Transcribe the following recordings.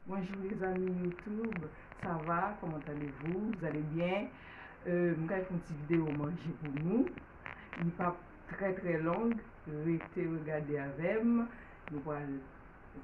Bonjour les amis YouTube ça va comment allez vous vous allez bien euh, m kay fon ti vidéo manje pou nou li pap très très long rete regade avèm nou pral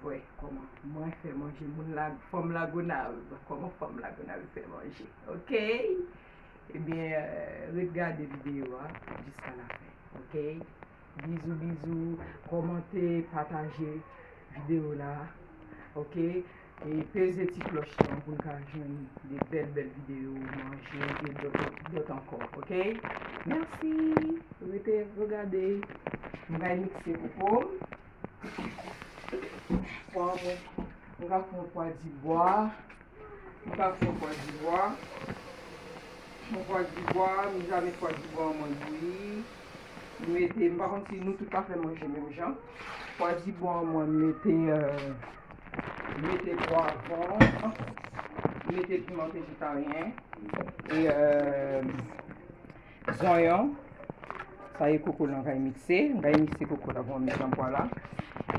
vwe koman mwen fè manje moun la fòm lagonav koman fòm lagonav fè manje ok ebyen eh euh, ret gade vidéo a jusqu'à la fin ok Bizou bizou kòmante pataje video la ok e peze ti klòch lan poun ka jwenn de bèl bèl video manje e lòt ankò ok mèsi rete re gade m pral mikse koko'm pwa mwen m pral pran pwa di bwa. M tap fon kwadivwa. Fon kwadivwa m jame kwadivwa an mwen bouyi m mete m pa konn si nou tout ta fè manje menm jan kwadivwa an mwen mete m mete pwavon m mete piman vejetaryen e zonyon sa e koko lan kay mikse m kay mikse koko la pou m met lan pwa la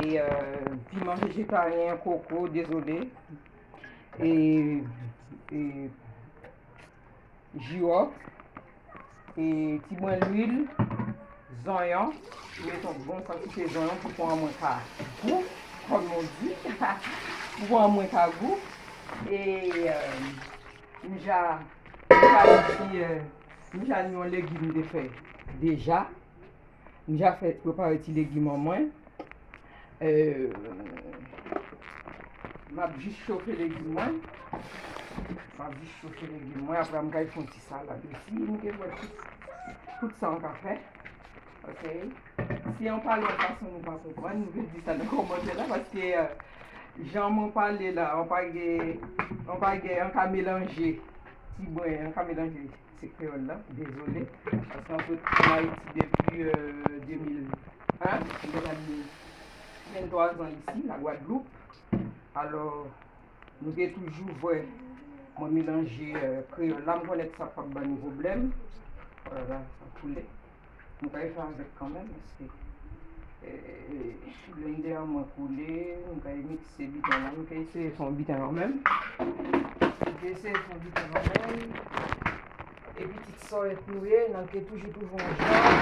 e piman vejetaryen koko dezole. jiròf, ti mwen lwil, zonyon, mwen met yon bon kantite zonyon pou pwa mwen ka gou, kòm yo di, pou pwa mwen ka gou, e mwen ja yon legim de fè deja. M ja fè prepare ti legim an mwen. M ap jis chofe legim mwen. M ap jis chofe legim mwen. Apre m kay fon ti salad osi. M gen mwen tout sa m ka fè. Ok. Si an pale an fason nou pa konprann, nou vin di sa nan komantè la. Paske jan mwen pale la, an pa gen, an pa gen, an ka melanje. Ti bwen, an ka melanje. Se kreyòl la, dezole. Paske mwen sot ann Ayiti depi 2001. Mwen gen zanmi 23 zan isi, la Gwadloup. Alò, nou te toujou vwe mwen melanje kreyòl la. Mwen konnen ke sa pap ban nou pwoblèm. Olala, sa koule. M pral jwe avèk kanmenm paske blender an mwen koule m pral mixe biten lan m pral eseye fè yon biten kanmenm m pral eseye fè yon biten kanmenm e pitit sòyèt nou ye nan ke toujou toujou ansanm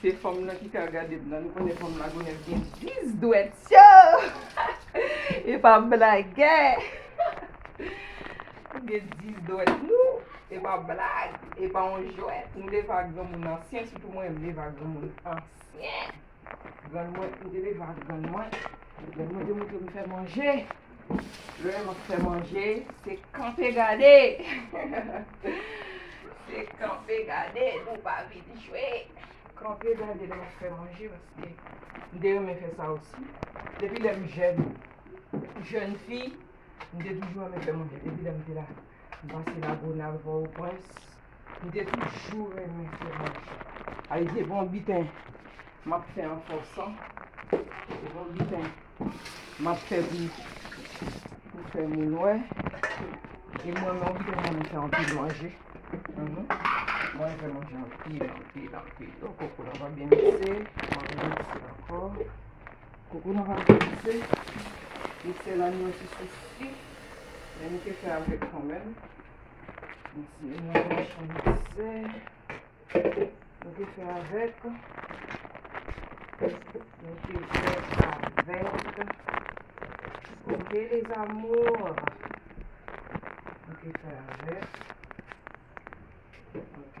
Se fanm lan ki ka gadem nan nou konnen fanm lagonev gen 10 dwet yoo epa blage nou gen 10 dwet nou epa blag epa yon jwet nou leva granmoun ansyen sitou mwen m leva granmoun ansyen grann mwen m te leva grann mwen grann mwen te moutrem fè manje Lè map fè manje se kanpe gade Se kanpe gade nou pa vin jwe Kanpe gade lè map fè manje paske m te renmen fè sa osi Depi lèm jèn jèn fi m te toujou renmen fè manje depi lèm te la. M pase lagonav pò o prens. M te toujou renmen fwomaj. Ay se pa yon biten m ap fè an fòsan. Se pa yon biten m ap fè pou fè moun wè. E mwen menm m renmen fè anpil manje. Mwen renmen fè manje anpil anpil anpil. Donk koko nan pa byen mikse. M ap remikse ankò. Koko nan pap degoute. Li sèl an yon ti sousi. Men nou te fè avèk kanmèm. Mwen ti yon nan manchon mikse. Nou te fè avèk. Nou te fè avèk. Ok les amours. Nou te fè avèk. Ok.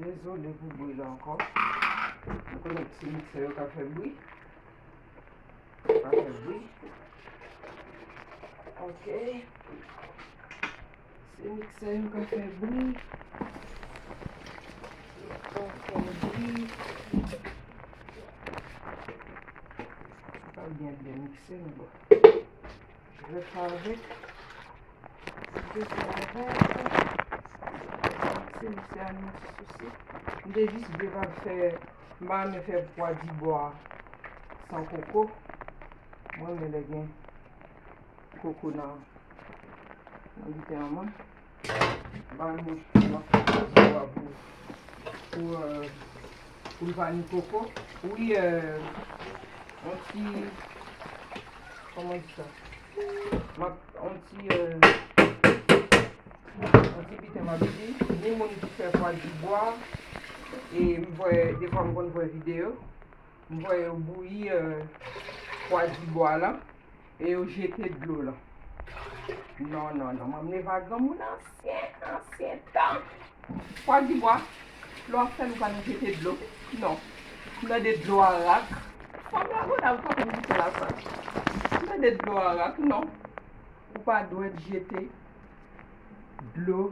Dezole pou bri la ankò. Mwen konnen ti miksè yo ka fè bri. Ka fè bri. Ok. Ti miksè yo ka fè bri. Ka fè bri. Ka byen byen mikse nou. Gwo savèk. Ti gwo savèk. Ti misye a nan sousi. M te jis vle pa l fè. M pa renmen fè pwa dibwa san koko. M renmen lè gen koko nan biten an mwen. Ba l mouch pou l ap fè zo a pou pou l pa ni koko. Wi on ti kòman w di sa m ap on ti on ti piten m ap di ni moun ki fè fwa di bwa e m vwe defwa m konn vwe videyo m vwe yo bouyi fwa di bwa la. E yo jete dlo lan. Non, non, non. Manmneva granmoun ansyen, ansyen tan. Pwa di bwa, lè w ap fè l ou pa nan jete dlo. Non. M nan de dlo arak. Fanm la gou la, ou pa konn goute la sa. M nan de dlo arak. Non. Ou pa dwèt jete dlo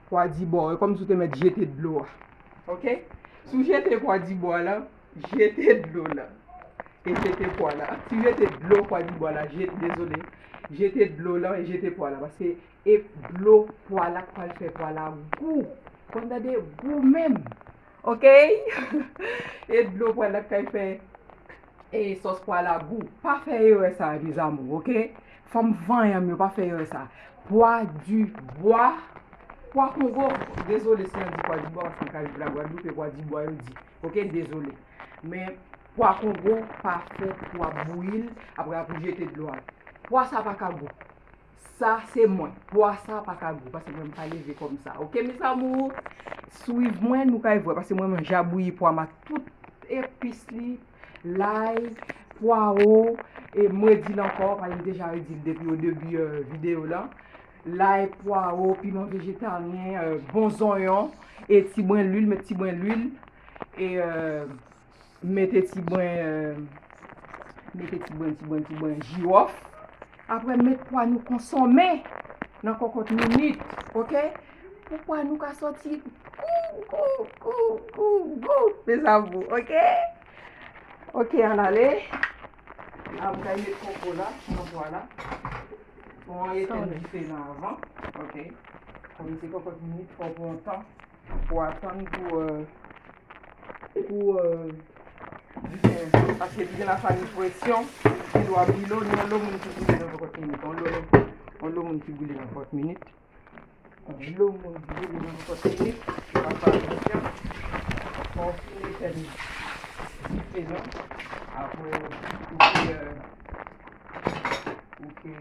pwa di bwa w. E kòm si w te mèt jete dlo a. Ok? Si w jete pwa di bwa lan, Jete dlo nan e jete pwa la. Si jete dlo pwa di bwa la jete dezole. Jete dlo lan e jete pwa la paske e dlo pwa la k pral fè pwa la gou. Konn tande gou menm. Ok e dlo pwa la k pral fè e sòs pwa la gou. Pa fè erè sa mes amours ok. Fanm vanyan m yo pa fè erè sa. Pwa di bwa, pwa kongo dezole si mwen di pwa di bwa paske m ka viv la gwadloup e pwa di bwa yo di. Ok dezole. Men pwa kongo pa fon pou ap bouyi l apre a pou jete dlo a. Pwa sa pa ka gou. Sa se mwen. Pwa sa pa ka gou paske mwen m pa leve kòm sa. Ok mes amours. Swiv mwen nou kay vwe paske mwen m ja bouyi pwa m ak tout epis li, lay, pwawo e m redil ankò paske m deja redil depi o debi video lan. lay, pwaro, piman vejetaryen, bon zonyon e ti brin lwil, met ti brin lwil e mete ti brin mete ti brin, ti brin, ti brin jirof apre met pwa nou konsonme nan kokot minit ok pou pwa nou ka soti gou, gou, gou, gou, gou mes amour ok ok al ale. La m kay met koko la, chanpwa la. Bon an eten dife nan avan. Ok. Kòm se kòkòt minit fò pran tan. Pou atan pou pou dife an cho. Pase li gen la farin presyon. Li dwa bouyi lò. Ni yon lò moun ki bouyi nan kòkòt minit. Yon lò moun ki bouyi nan kòkòt minit. Dlo moun dlo moun nan pot li wi pa fè atansyon pa w fini fè l dife non aprè ou fè ou fè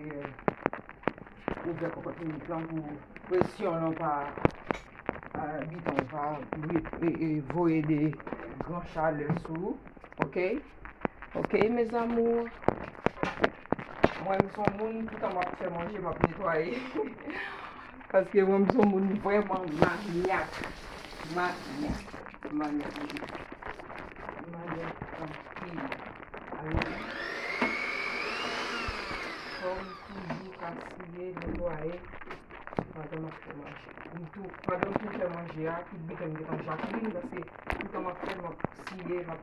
ou fè kòkòt minit lan pou presyon lan pa biton pa voye de gran chalè sou ok. Ok mes amours. Mwen m son moun toutan map fè manje map netwaye. Paske mwen m son moun vreman manyak. Manyak. Manyak. Manyak anpil. Amen. Fòm toujou kasye netwaye. Pandan map fè manje. Mtou pandan mtou fè manje a tout biten m getan Jacqueline paske toutan map fè map siye map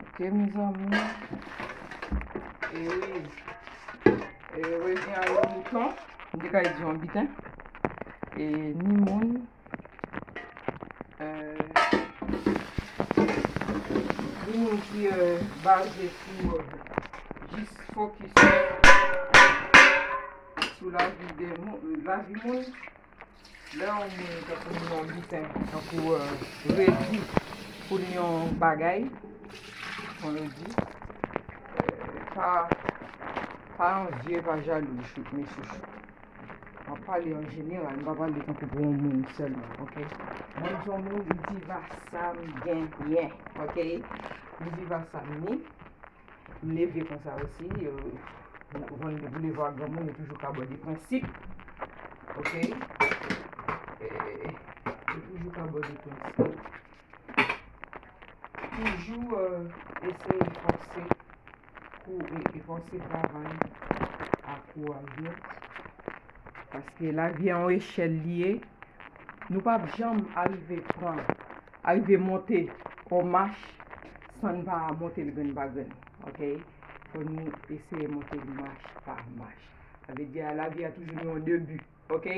Ok mezanmi. E oui. E oui, gen a yon mouton. M te ka di yon biten. E ni moun. Ni moun ki baze sou jis fokis sou la vi moun. Lè yon moun tankou m nan biten tankou redi pou n yon bagay kon redi pa pa anvye pa jalou mesye map pale an jeneral m pa pale tankou pou yon moun sèlman ok mwen son moun m viv ak sa m genyen ok m viv ak sa m ye M neve konsa osi Van de boulevard granmoun yo toujou ka bò de prensip Ok Yo toujou ka bò de prensip Toujou eseye fòse kou e fòse travay a kou a vye Paske lavi a yon echèl li ye Nou pap janm arive pran Arive monte on mach san n pa monte l grenn pa grenn. Ok. Fò nou eseye monte l mach pa mach. Sa vle di lavi a toujou gen yon debi. Ok.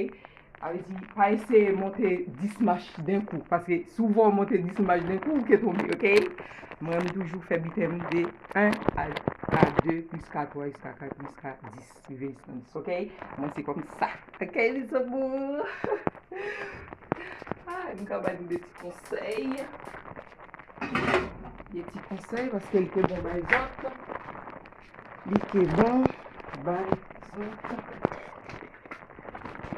Sa vle di pa eseye monte 10 mach den kou. Paske si w vè w monte 10 mach den kou, ou ke tonbe. Ok. Mwen renmen toujou fè biten m de 1 a 2 jiska 3 jiska 4 jiska 10. Business ok mwen se kom sa ok li zo mou a m ka bay de ti konsey de ti konsey paske li ke bon bay zot li ke bon bay zot ok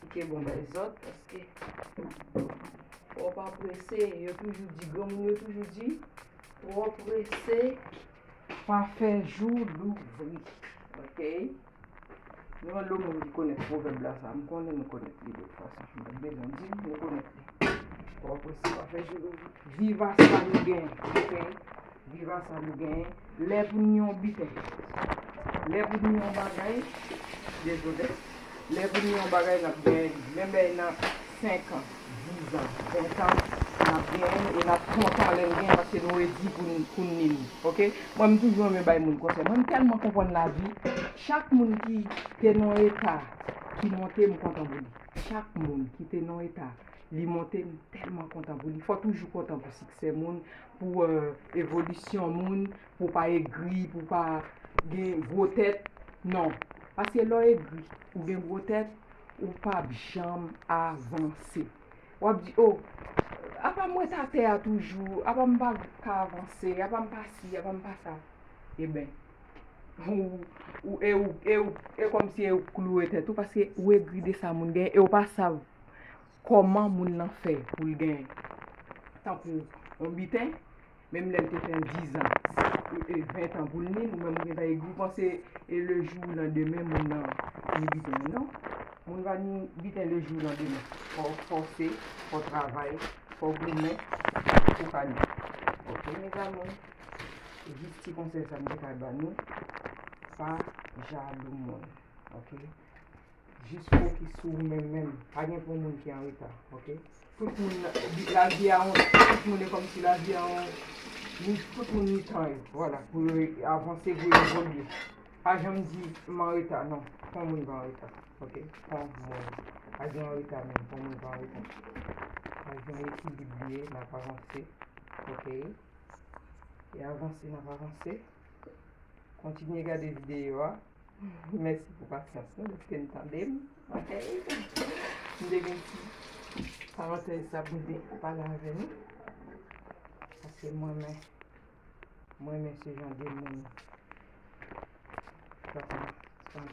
li ke bon bay zot paske ou pa prese yo toujou di granmoun yo toujou di ou pa prese Pa fè jou louvri. Ok. Nou an lou moun ki konnen pwovèb la sa. M konnen nou konnen li de fwa sa. M pat bezwen di nou nou konnen li. Ou apresye pa fè jou louvri. Viv a sa nou gen. Ok. Viv a sa nou gen. Lè pou nou yon biten. Lè pou nou yon bagay. Dezode. Lè pou nou yon bagay nap gen. Menm lè nan. 5 ans, 10 ans, 20 ans nap genyenl e nap kontan lèn genyen paske nou redi poun nil ok mwen m toujou renmen bay moun konsèy mwen m tèlman konprann lavi chak moun ki te nan yon eta ki monte m kontan pou li chak moun ki te nan yon eta li monte m tèlman kontan pou li fò toujou kontan pou siksè moun pou evolisyon moun pou pa egri pou pa gen gwo tèt non paske lè w egri ou gen gwo tèt Ou pap janm avanse. Wap di oh apam ret atè a toujou, apam pa ka avanse, apam pa si, apam pa sa. Eben ou e ou e ou e komsi e ou k kloure tèt ou paske ou egri de sa moun genyen e ou pa sav. Kòman moun nan fè pou l gen tankou yon biten, menm lè l te fè dizan, ventan pou l ni, ou menm ou gentan egri, ou panse e lejou ou nan demen moun nan ni biten l non. Moun va ni biten lejou ou nan demen. Fò w fòse, fò w travay, fò w goumen pou w ka ni. Ok mes amours, se jis ti konsèy sa m te ka ba nou, pa jalou moun ok. Jis fè ki sou ou menm menm. Pa gen pou moun ki anreta ok. Tout moun la vi a yon tout moun e kòmsi la vi a yon ni tout moun ni tan yo vwala pou yo avanse pou yo evolye pa janm di m anreta non fon moun pa anreta ok fon moun pa gen anreta menm fon moun pa anreta pa gen ekilib li ye n ap avanse ok e avanse n ap avanse kontinye gade videyo a. Mèsi pou pasyans nou deske n tande m ok m te gen ti parantèz sa pou m te pale avè nou paske m renmen m renmen se jan de moun sa sa m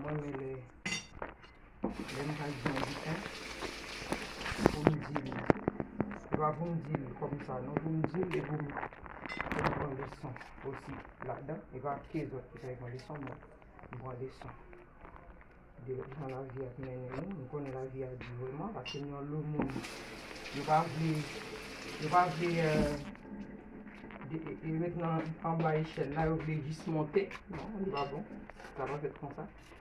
renmen lè Lè nou pral di yon dikton, se pou nou di li. Se pa pou nou di li kòm sa non. Pou nou di li e pou nou pran leson osi ladan. E pa ke zòt ki fè yon leson men nou pran leson. De jan lavi a ap mennen nou. Nou konnen lavi a di vreman. Pase nou yon lo moun. Yo pa vle, yo pa vle e ret nan anba echèl la. Yo vle jis monte. Non, li pa bon. Sa pa fèt konsa.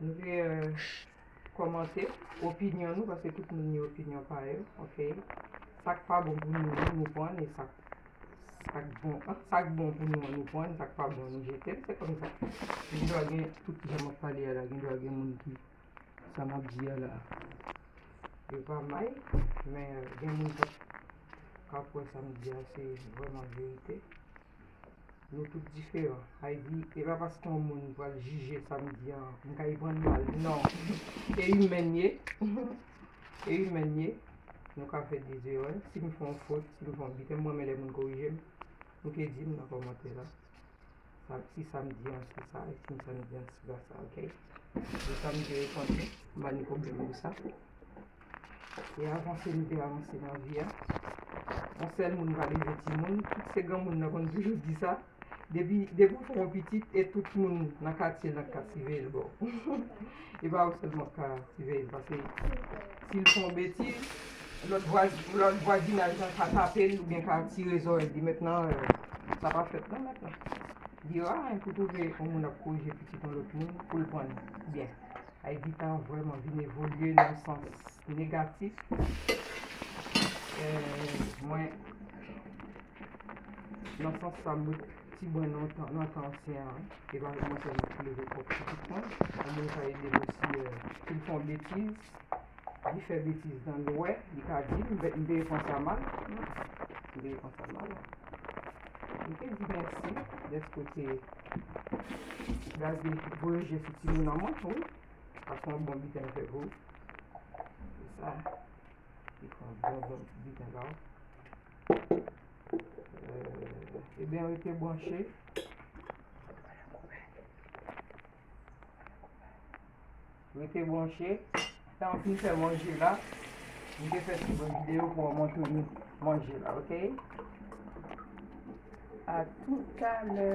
Vye komante opinyon nou paske tout moun gen opinyon pa yo ok sak pa bon pou nou nou pwan e sak sak bon sak bon pou nou nou pwan sak pa bon nou jete se konsa gen dwa gen tout jan map pale a la gen dwa gen moun ki sa map di a la yo pa may men gen moun kap kap wè sam di a se vweman verite. Nou tout diferan. Ayy e pa paske yon moun pral jije sa m di an m ka y pran l mal non e imèn n ye e imèn n ye nou ka fè de zerè si m fè yon fot si m fè yon bgy m renmen lè moun korije m nou ke di m nan kòmantè la sa si sa m di an se sa e si sa m di an se pa sa ok m pa ni pwoblèm pou sa. Se avanse nou te avanse nan vi a. Yon sèl moun pa leve timoun. Tout se granmoun nan konn toujou di sa. Depi depi ou fè yon pitit e tout moun nan katye nan ka siveye l bò. E pa ou sèlman k ka siveye l pase si l fè yon betiz lòt vwazi lòt vwazinaj lan ka tape l oubyen ka tire zòrèy li. Mèt nan sa pa fèt non mèt nan. Li ra hein pou w twouve yon moun ap korije pitit yon lòt moun pou l pran l byen. Ay Guitar vrèman vin evolye nan sans negatif mwen nan sans sa m wè ti bwen nan nan tan ansyen an e lwa kòmanse ap souleve kòk ti pitit mwen yon moun ka ede m osi si m fè yon betiz Li fè betiz nan nou wè li ka di m m te repran sa mal m te repran sa mal m te di mèsi dèske w te gaze voye je sou timoun an mwen wi sa se yon bon biten m fè pou ou se sa li fè yon bon bon ti biten ba w e byen rete branche Rete branche, tan pou fè manje la, m te fè ti bon videyo pou an montre nou manje la ok. A toutalè.